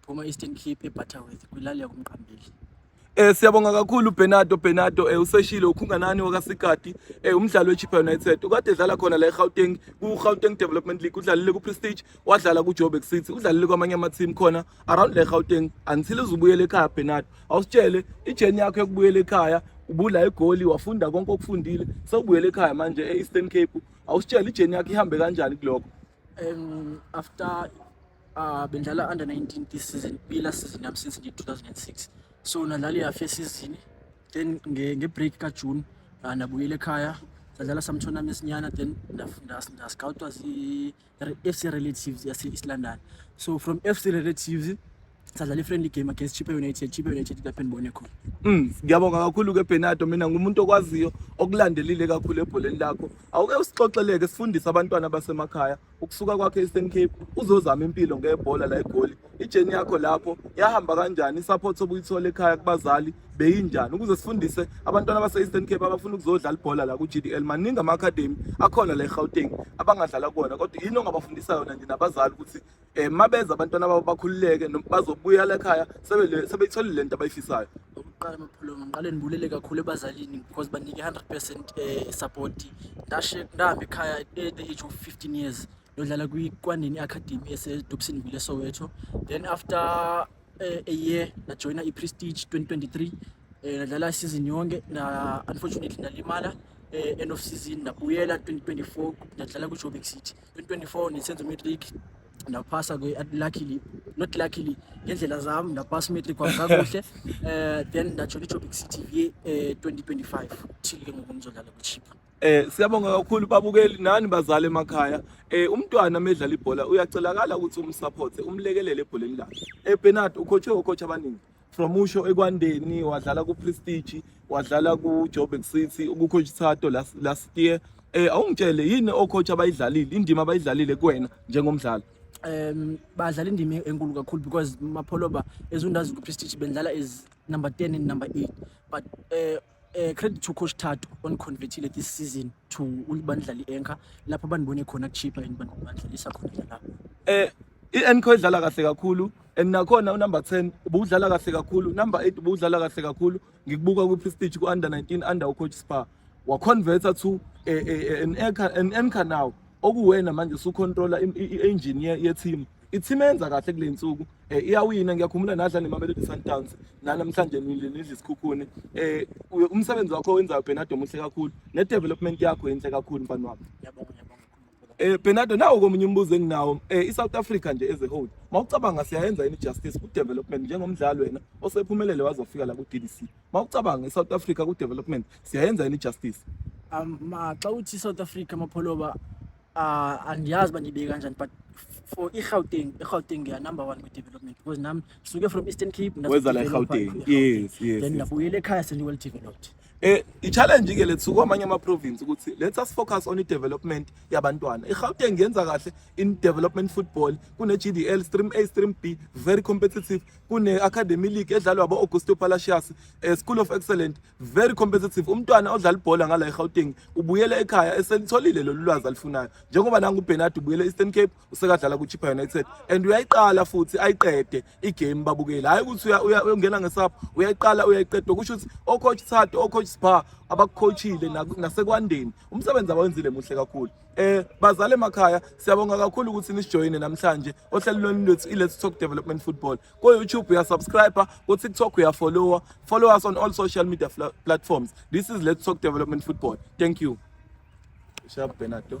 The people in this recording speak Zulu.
Phuma Eastern Cape eButterworth kwilali yakumqambeli. Eh siyabonga kakhulu Bernardo Bernardo eh useshile ukhunganani wakaSikati eh umdlalo weChippa United ukade edlala khona la eGauteng kuGauteng Development League udlalile kuPrestige wadlala kuJoburg City udlalile kwamanye ama team khona around la eGauteng until uzubuyele ekhaya Bernardo awusitshele ijourney yakho yokubuyela ekhaya ubula egoli wafunda konke okufundile sewubuyele ekhaya manje eEastern Cape awusitshele ijourney yakho ihambe kanjani kuloko Um, after uh, bendlala under 19 this season kuyila season yami since ngi 2006 so nadlala iyafe season then nge, nge break ka June uh, nabuyela ekhaya sadlala some tournaments nyana then ndascoutwa zi FC Relatives yase East London so from FC Relatives sadlala i-friendly game against Chippa United Chippa United lapho enibone khona mm ngiyabonga kakhulu ke Bernardo mina ngumuntu okwaziyo okulandelile kakhulu ebholeni lakho awuke usixoxeleke sifundise abantwana basemakhaya ukusuka kwakhe e-Eastern Cape uzozama impilo ngebhola la egoli ijeni yakho lapho yahamba kanjani support obuyithola ekhaya kubazali beyinjani ukuze sifundise abantwana base-eastern cape abafuna ukuzodlala ibhola la ku-g d l maningi ama-academy akhona la egauteng abangadlala kuwona kodwa yini ongabafundisa yona nje nabazali ukuthi um mabeza abantwana babo bakhululeke bazobuya lekhaya sebeyithole le nto abayifisayo okokuqala maphulo ngiqale ndibulele kakhulu ebazalini because banike i-hundred percent um eh, support ndashe ndahamba ekhaya at the age of fifteen years yodlala kwikwandeni i-academy esedobsini vile soweto then after uh, a year najoyina i-prestige 2023 um eh, nadlala isizini yonke na unfortunately nalimala um end of season nabuyela 2024 nadlala kwi-joburg city 2024 ngisenza matric ndaphasa ke luckily not luckily ngendlela zami ndaphasa matric kwami kakuhle eh then ndajola iJoburg City VA eh 2025 till ke ngoku ngizodlala kuchipa Eh siyabonga kakhulu babukeli nani bazali emakhaya. Eh umntwana medlala ibhola uyacelakala ukuthi umsupport, umlekelele ebholeni lakhe. Eh Bernard ukhotshwe okhotha abaningi. from usho ekwandeni wadlala kuprestige wadlala kujoburg city kucoach thato last, last year eh awungitshele yini ocoach abayidlalile indima abayidlalile kuwena njengomdlali um badlala indima enkulu kakhulu because mapholoba ezundazi kuprestige bendlala is number 10 and number 8 but uh, Uh, credit to coach Thato on convertile this season to ulibandla li-anchor lapho banibone khona kuchipha and banibandlalisa khona lapho eh i-anchor idlala kahle kakhulu and nakhona unumber 10 ubudlala kahle kakhulu number 8 ubudlala kahle kakhulu ngikubuka kwi-prestige ku-under 19 under ucoach spa waconverta to eh, eh, eh, an anchor now okuwena manje usucontrola i-engine ye-team Ithima yenza kahle kule nsuku eh, iyawina ngiyakhumbula nadla nemamelodi sundowns nanamhlanje nidla isikhukhuni eh, umsebenzi wakho owenzayo benado muhle kakhulu ne-development yakho yinhle kakhulu mfana wami Eh Bernardo nawo komunye umbuzo enginawo eh iSouth Africa nje as a whole mawucabanga siyayenza ini justice ku development njengomdlali wena osephumelele wazofika la ku DDC mawucabanga iSouth Africa ku development siyayenza ini justice um xa uthi South Africa mapholoba uh, andiyazi uba ndiyibeke kanjani but for irhawuteng irhawuteng ngiya number one kwi-development because nam suke from eastern cape wezala irhawuteng yes yes then ndabuyela ekhaya sendiwell developed Eh i-challenge ke lethu kwamanye ama-province ukuthi let us focus on i-development yabantwana. I-Gauteng ngenza kahle in development football kune-GDL stream A stream B very competitive kune-academy league edlalwa abo-augusto palacios eh, school of excellent very competitive umntwana odlala ibhola ngala egauteng ubuyele ekhaya eselitholile lolu lwazi alifunayo njengoba nangubenard ubuyele eastern cape usekadlala kwichippa united and uyayiqala futhi ayiqede igame babukeli hhayi ukuthi uyongena ngesapho uyayiqala uyayiqeda kusho ukuthi ocoach thato ocoach spa abakucoachile nasekwandeni umsebenzi abawenzile muhle kakhulu Eh bazali emakhaya siyabonga kakhulu ukuthi nisijoyine namhlanje ohlelweni lwethu iLet's Talk Development Football. Ku YouTube uya subscribe, ku TikTok uya follow, follow us on all social media platforms. This is Let's Talk Development Football. Thank you. Shab Benato.